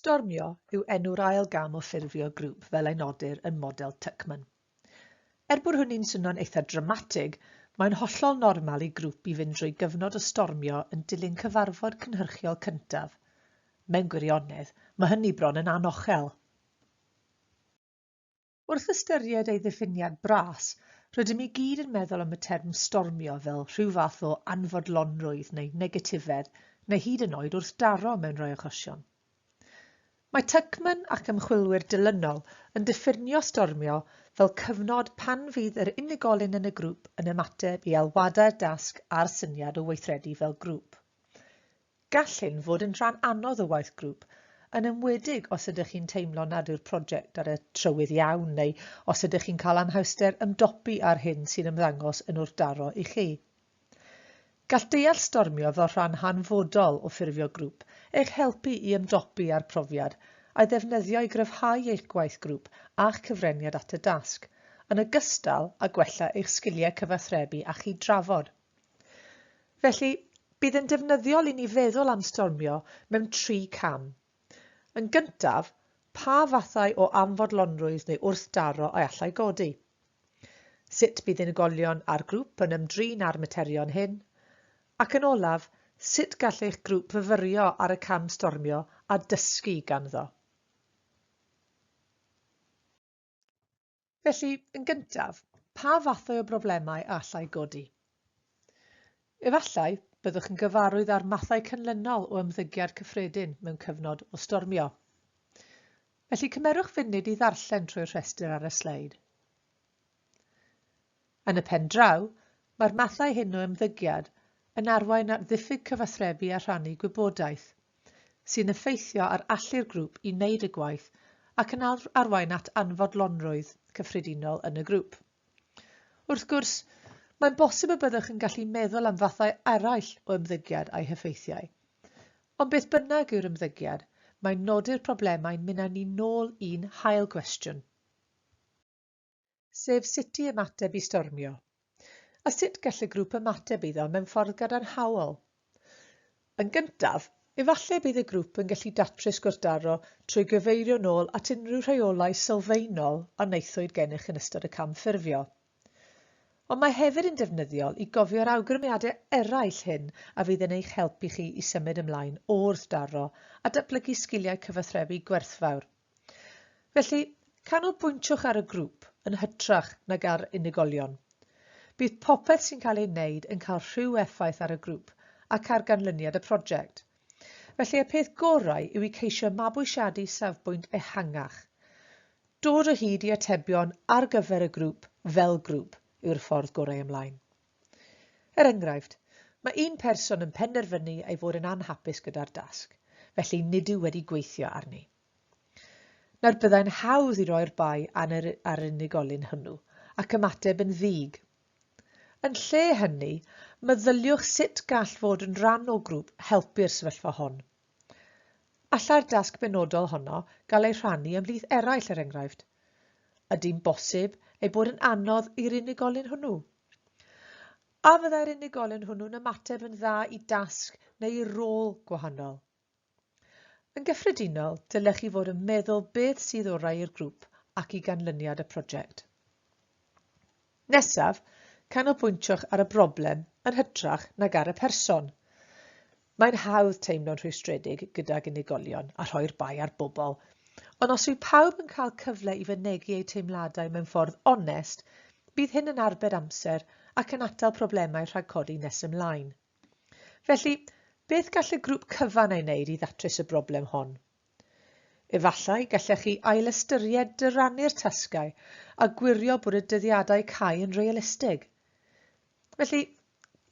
Stormio yw enw'r ail gam o ffurfio grŵp fel ei nodir yn model Tuckman. Er bod hynny'n swnio'n eitha' dramatig, mae'n hollol normal i grŵp i fynd drwy gyfnod o stormio yn dilyn cyfarfod cynhyrchiol cyntaf. Mewn gwirionedd, mae hynny bron yn anochel. Wrth ystyried ei ddiffiniad bras, rydym i gyd yn meddwl am y term stormio fel rhyw fath o anfodlonrwydd neu negatifedd neu hyd yn oed wrthdaro mewn rhai achosion. Mae Tuckman ac ymchwilwyr dilynol yn diffinio stormio fel cyfnod pan fydd yr unigolyn yn y grŵp yn ymateb i alwadau'r dasg a'r syniad o weithredu fel grŵp. Gall hyn fod yn rhan anodd o waith grŵp, yn enwedig os ydych chi'n teimlo nad yw'r prosiect ar y trywydd iawn neu os ydych chi'n cael anhawster ymdopi â'r hyn sy'n ymddangos yn wrthdaro i chi. Gall deall stormio fel rhan hanfodol o ffurfio grŵp eich helpu i ymdopi â'r profiad a'i ddefnyddio i gryfhau eich gwaith grŵp a'ch cyfraniad at y dasg, yn ogystal â gwella eich sgiliau cyfathrebu a chyd-drafod. Felly, bydd yn defnyddiol i ni feddwl am stormio mewn tri cam. Yn gyntaf, pa fathau o amfodlonrwydd neu wrthdaro y allai godi? Sut bydd unigolion a'r grŵp yn ymdrin â'r materion hyn? Ac yn olaf, sut gall eich grŵp fyfyrio ar y cam stormio a dysgu ganddo? Felly, yn gyntaf, pa fathau o broblemau a allai godi? Efallai byddwch yn gyfarwydd â'r mathau cynlynol o ymddygiad cyffredin mewn cyfnod o stormio. Felly cymerwch funud i ddarllen trwy'r rhestr ar y sleid. Yn y pen draw, mae'r mathau hyn o ymddygiad yn arwain at ddiffyg cyfathrebu a rhannu gwybodaeth, sy'n effeithio ar allu'r grŵp i wneud y gwaith ac yn arwain at anfodlonrwydd cyffredinol yn y grŵp. Wrth gwrs, mae'n bosib y byddwch yn gallu meddwl am fathau eraill o ymddygiad a'i heffeithiau. Ond beth bynnag yw'r ymddygiad, mae nodi'r problemau'n mynd â ni nôl i'n hail gwestiwn. sef sut i ymateb i stormio, a sut gall y grŵp ymateb iddo mewn ffordd gadarnhaol. Yn gyntaf, efallai bydd y grŵp yn gallu datrys gwrthdaro trwy gyfeirio'n ôl at unrhyw rheolau sylfaenol a wnaethwyd gennych yn ystod y cam ffurfio. Ond mae hefyd yn defnyddiol i gofio'r awgrymiadau eraill hyn a fydd yn eich helpu chi i symud ymlaen o wrthdaro a datblygu sgiliau cyfathrebu gwerthfawr. Felly, canolbwyntwch ar y grŵp yn hytrach nag ar unigolion. Bydd popeth sy'n cael ei wneud yn cael rhyw effaith ar y grŵp ac ar ganlyniad y prosiect. Felly y peth gorau yw i ceisio mabwysiadu safbwynt ehangach. Dod o hyd i atebion ar gyfer y grŵp fel grŵp yw'r ffordd gorau ymlaen. Er enghraifft, mae un person yn penderfynu ei fod yn anhapus gyda'r dasg, felly nid yw wedi gweithio arni. Nawr byddai'n hawdd i roi'r bai ar unigolyn hwnnw ac ymateb yn ddig. Yn lle hynny, meddyliwch sut gall fod yn rhan o grŵp helpu'r sefyllfa hon. Allai'r dasg benodol honno gael ei rhannu ymhlith eraill er enghraifft? Ydy'n bosib ei bod yn anodd i'r unigolyn hwnnw? A fyddai'r unigolyn hwnnw'n ymateb yn dda i dasg neu i rôl gwahanol? Yn gyffredinol, dylech chi fod yn meddwl beth sydd orau i'r grŵp ac i ganlyniad y prosiect. Nesaf, canolbwyntiwch ar y broblem yn hytrach nag ar y person. Mae'n hawdd teimlo'n rhwystredig gydag unigolion a rhoi'r bai ar bobl, ond os yw pawb yn cael cyfle i fynegi eu teimladau mewn ffordd onest, bydd hyn yn arbed amser ac yn atal problemau rhag codi nes ymlaen. Felly, beth gall y grŵp cyfan ei wneud i ddatrys y broblem hon? Efallai gallech chi ailystyried dyrannu'r tasgau a gwirio bod y dyddiadau cau yn realistig. Felly,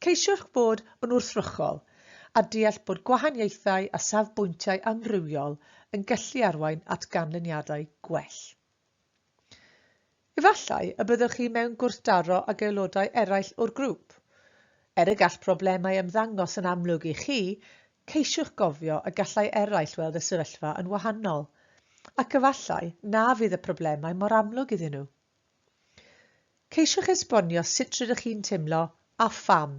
ceisiwch fod yn wrthrychol a deall bod gwahaniaethau a safbwyntiau amrywiol yn gallu arwain at ganlyniadau gwell. Efallai y byddwch chi mewn gwrthdaro ag aelodau eraill o'r grŵp. Er y gall problemau ymddangos yn amlwg i chi, ceisiwch gofio y gallai eraill weld y sefyllfa yn wahanol, ac efallai na fydd y problemau mor amlwg iddyn nhw. Ceisiwch esbonio sut rydych chi'n teimlo a pham,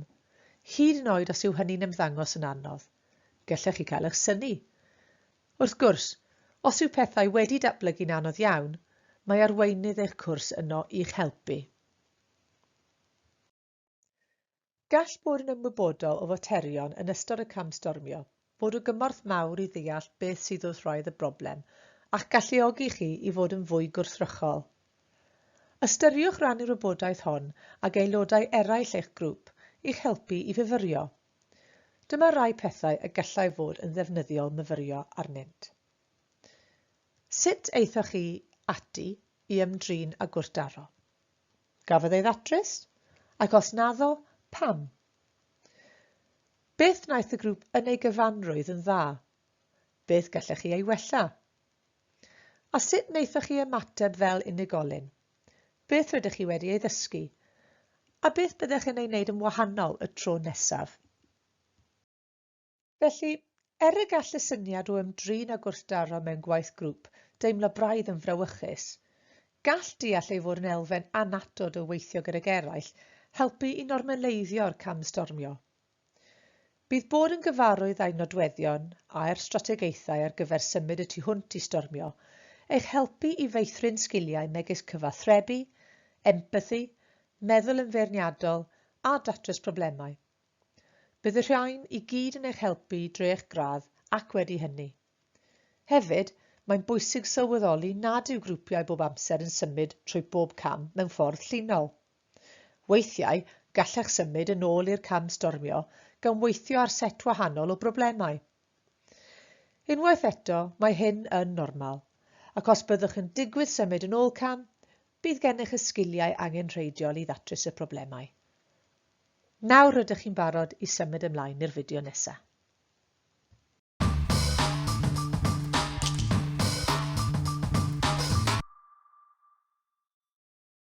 hyd yn oed os yw hynny'n ymddangos yn anodd. Gallech chi gael eich synnu. Wrth gwrs, os yw pethau wedi datblygu'n anodd iawn, mae arweinydd eich cwrs yno i'ch helpu. Gall bod yn ymwybodol o faterion yn ystod y cam stormio fod o gymorth mawr i ddeall beth sydd wrth wraidd y broblem a'ch galluogi chi i fod yn fwy gwrthrychol. Ystyriwch rannu'r wybodaeth hon ag aelodau eraill eich grŵp i'ch helpu i fyfyrio Dyma rai pethau y gallai fod yn ddefnyddiol myfyrio arnynt. Sut aethoch chi ati i ymdrin â gwrthdaro? Gafodd ei ddatrys? Ac os naddo, pam? Beth wnaeth y grŵp yn ei gyfanrwydd yn dda? Beth gallech chi ei wella? A sut wnaethoch chi ymateb fel unigolyn? Beth rydych chi wedi ei ddysgu? A beth byddech yn ei wneud yn wahanol y tro nesaf? Felly, er y gall y syniad o ymdrin a gwrthdaro mewn gwaith grŵp deimlo braidd yn frawychus, gall deall ei fod yn elfen annatod o weithio gydag eraill helpu i normaleiddio'r camstormio. Bydd bod yn gyfarwydd â'i nodweddion a'r strategaethau ar gyfer symud y tu hwnt i stormio eich helpu i feithrin sgiliau megis cyfathrebu, empathi, meddwl yn feirniadol a datrys problemau. Bydd y rhain i gyd yn eich helpu drwy eich gradd ac wedi hynny. Hefyd, mae'n bwysig sylweddoli nad yw grwpiau bob amser yn symud trwy bob cam mewn ffordd llinol. Weithiau, gallech symud yn ôl i'r cam stormio gan weithio ar set wahanol o broblemau. Unwaith eto, mae hyn yn normal, ac os byddwch yn digwydd symud yn ôl cam, bydd gennych y sgiliau angenrheidiol i ddatrys y problemau. Nawr rydych chi'n barod i symud ymlaen i'r fideo nesaf.